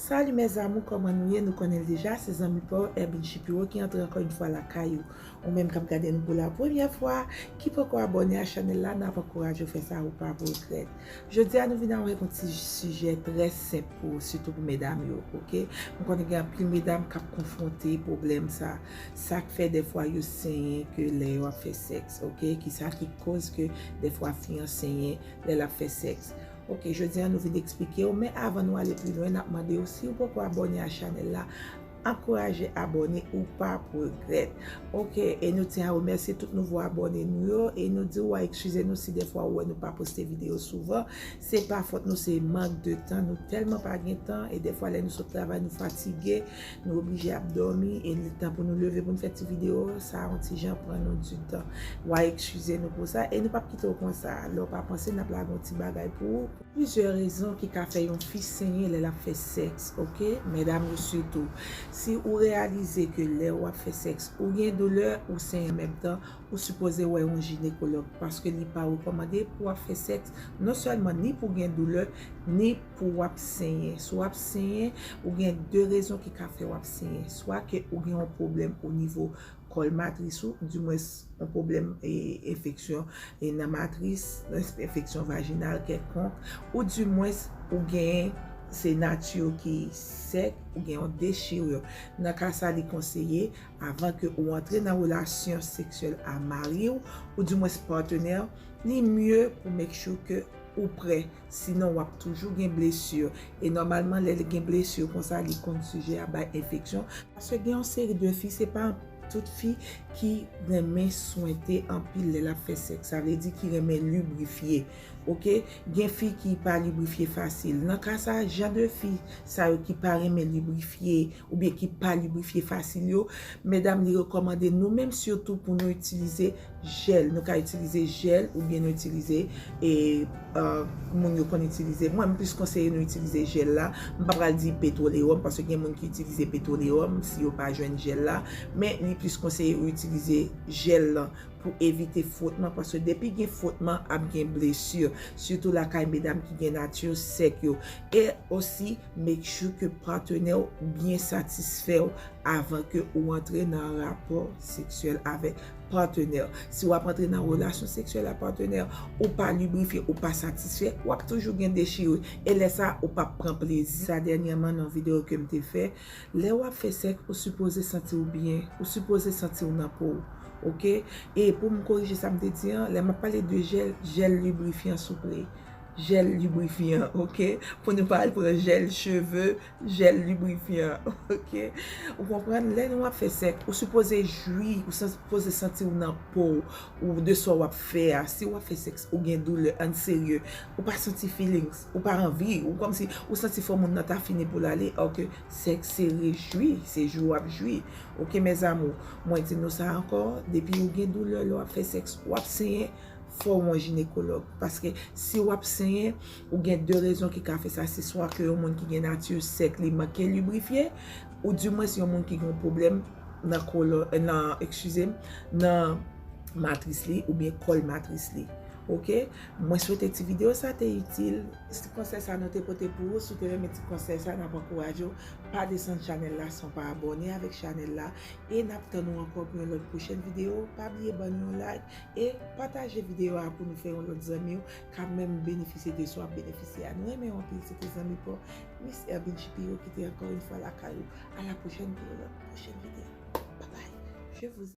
Salut mes amour koman nou ye nou konnen l deja se zanmi pa w Erbin Shapiro ki antre ankò yon fwa lakay ou ou menm kap gade nou pou la premyè fwa ki poko abòne a chanèl la nap ankouraje w fè sa ou pap regrèt Jodi a nou vin avèk yon ti sijè trè senp pou sitou pou medam yo ok m konnen gen anpil medam kap konfwonte pwoblèm sa sak fè dèfwa yo senyen ke lè yo ap fè sèks ok kisa ki koz ke dèfwa fi an senyen lè lap fè sèks ok jodi a nou vin eksplikew men avan nou ale pi lwen nap mandew siw poko abòne a chanèl la Ankouraje abòne ou pap regrèt. Ok e nou tyen a remèsye tout nouvo abòne nou yo e nou di ou a ekskize nou si defwa ou wè nou pa poste video souvan se pa fòt nou se mank de tan nou tèlman pa gen tan e defwa lè nou sot travay nou fatige nou oblije ap dòmi e li tan pou nou leve pou nou fè ti video sa yon ti jan pran nou di tan ou a ekskize nou pou sa e nou pap kite ou konsa lè ou pa panse nap lage yon ti bagay pou ou. Plizyè rezon ki ka fè yon fi senyen lè lap fè sèks ok medam yo sitou si ou reyalize ke lè wap fè sèks ou gen doulè ou senyen anmenm tan ou sipoze wè yon jinekològ paske li pa rekòmande pou wap fè sèks non sèlman ni pou gen doulè ni pou wap senyen si wap senyen ou gen 2 rezon ki ka fè wap senyen swa ke ou gen yon pwoblèm onivo Kòl matris ou, di mwens yon pwoblèm enfeksyon nan matris, enfeksyon vajinal kèlkonk, ou di mwens ou gen se nati ou ki sèk, ou gen yon dechirur. Nan ka sa li konseye avan ke ou antre nan relasyon seksyèl a mari ou, ou di mwens patenè ou, li mye pou make sure ke ou prè. Sinon wap toujou gen blessure. E normalman lè gen blessure konsa li konn sujet a bay enfeksyon. Paske gen yon seri de fi se pa tout fi ki renmen swente anpil lè lap fè sèks. Sa vle di ki renmen lubrifye. Ok. Gen fi ki pa lubrifye fasil. Nan ka sa jan de fi sa yo ki pa renmen lubrifye oubyen ki pa lubrifye fasil yo, medam li rekomande nou menm sitou pou nou itilize. Jèl, nou ka itilize jèl oubyen nou itilize e moun yo konn itilize, mwen m plis konseye nou itilize jèl la, m pa pral di petwolewòm paske gen moun ki itilize petwolewòm si yo pa jwenn jèl la, men li plis konseye ou itilize jèl lan pou evite fwotman paske depi gen fwotman ap gen blesir sitou lakay medam ki gen nati sèk yo e osi make sure ke patenè w byen satisfè w avan ke ou antre nan rapò seksyèl avèk. Patenè. Si wap antre nan relasyon seksyèl a patenè, ou pa librifye, ou pa satisfè, wap toujou gen dechire, e lè sa ou pap pran plezi. Sa dènyèman nan yon videyo kem te fè, lè wap fè sèks ou sipoze santiw byen, ou sipoze santiw nan pow ok, e poum korije sam te di an, lè map pale de jèl, jèl librifyan souple, jèl librifyan ok, pou nou pa al pran jèl cheve, Jèl librifyan ok ou konprann lè nou ap fè sèk ou sipoze jwi ou sipoze santi ou nan pow ou de sa wap fè a si wap fè sèk ou gen doulè ann serye ou pa santi feelings ou pa anvi ou kòmsi ou santi fò moun nan ta fini poul ale or ke sèk se rejwi se jwi wap jwi ok mes amours mwen di nou sa ankò depi ou gen doulè lè wap fè sèk wap senyen fò ou yon jinekològ paske si wap senyen Ou gen de rezon ki ka fè sa, se swa ke yon moun ki gen nati sèk li manke librifye, ou di mwens yon moun ki gen yon pwoblèm nan kolo, nan, ekskize m, nan matris li oubyen kòl matris li. Ok? Mwen swete ti video sa te itil. Se ti konsèy sa nou te pote pou ou. Si w te renmen ti konsèy sa, n ap ankouraje w, pa desann chanèl la san w pa abòne avèk chanèl la. E n ap tann ou ankò pou yon lòt pwochèn video. Pa bliye ban nou yon like e pataje video a pou nou fè yon lòt zanmi w. ka menm benefisye de sa w ap benefisye a. Nou renmen w anpil. Se te zanmi pa w, Miss Hermine Shapiro ki te ankò yon fwa lakay ou. A la pwochèn pou yon lòt pwochèn videyo. Bye bye. Je vous aime.